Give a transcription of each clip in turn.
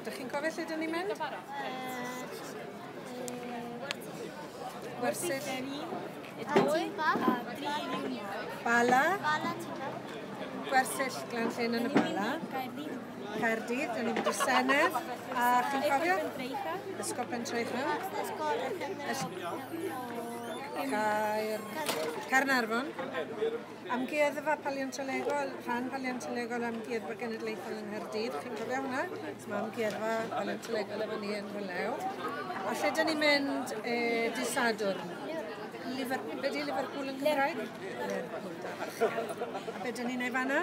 Dych chi'n cofio lle dyn ni'n mynd? Wersyll. Ativa. Bala. Gwersyll Glan Llyn yn y Bala. Caerdydd, dyn ni'n mynd i Senedd. A chi'n cofio? Ysgol Pentreichel. Ysgol Caer... Caernarfon. Amgueddfa Paleontolegol, rhan paleontolegol Amgueddfa Genedlaethol yng Nghaerdydd, chi'n cofio hwnna? Mae amgueddfa paleontolegol efo ni yn Rhylew. A lle dyn ni'n mynd e, dy Sadwrn? Liverpool, be di Liverpool yn Cymraeg? Liverpool. A be dyn ni'n ei fanna?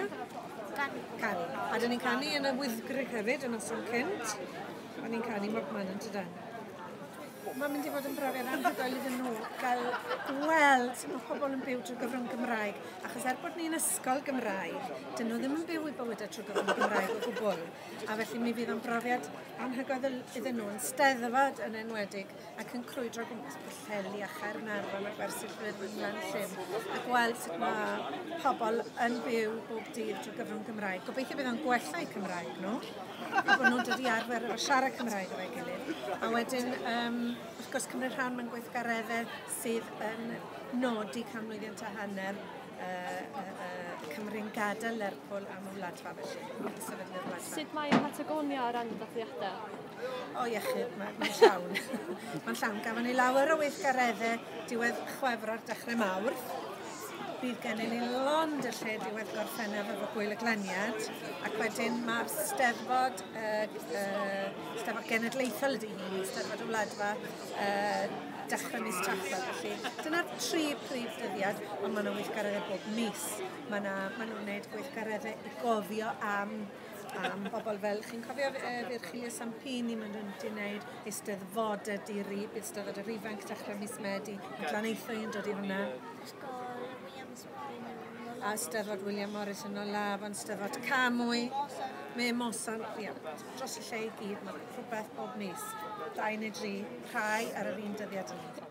Canu. Canu. A dyn ni'n canu yn y wyddgrug hefyd, yn noson cynt. O'n ni'n canu mor man yn tydan. Mae'n mynd i fod yn brofiad anhygoel iddyn nhw gael gweld sut mae pobl yn byw trwy gyfrwng Gymraeg. Achos er bod ni'n ysgol Gymraeg, dyn nhw ddim yn byw i bywydau trwy gyfrwng Gymraeg o gwbl. A felly mi fydd o'n brofiad anhygoel iddyn nhw yn steddfod yn enwedig ac yn crwydro gwmpas Pwllheli a Chaernarfon a Gwersyllwyr Fynlan Llyn a gweld sut mae pobl yn byw bob dydd trwy gyfrwng Gymraeg. Gobeithio bydd o'n gwella eu Cymraeg nhw. a bod nhw'n dod i arfer efo siarad Cymraeg efo'i gilydd. A wedyn, um, wrth gwrs, cymryd rhan mewn gweithgareddau sydd yn nodi canmlwyddiant a hanner uh, uh, uh, Cymru'n gadael Lerpwl am y wladfa felly, a sefydlu'r wladfa. Sut mae Patagonia o ran dathliadau? O iechyd, mae'n ma llawn. mae'n llawn. Gafon ni lawer o weithgareddau diwedd chwefro'r dechrau mawr, Ynys. Bydd gennym ni lond y lle diwedd Gorffennaf efo Gwyl y Glaniad ac wedyn mae'r Steddfod, uh, uh, Steddfod Genedlaethol ydy hi, Steddfod y Wladfa, uh, dechrau mis Tachwedd. Felly dyna'r tri prif dyddiad, ond mae yna weithgareddau bob mis. Mae yna, maen nhw'n gwneud gweithgareddau i gofio am am bobl fel, chi'n cofio uh, Virgilio Sampini, mae'n rhywun wedi gwneud eisteddfod y diri, eisteddfod yr ifanc dechrau mis Medi, a glan eithau yn dod i hwnna. Ysgol Williams Morris. A eisteddfod William Morris yn ola, fan eisteddfod Camwy. Me Mosan, ia, dros y lle i gyd, mae'n rhywbeth bob mis. Dau neu dri, rhai ar yr un dyddiad yn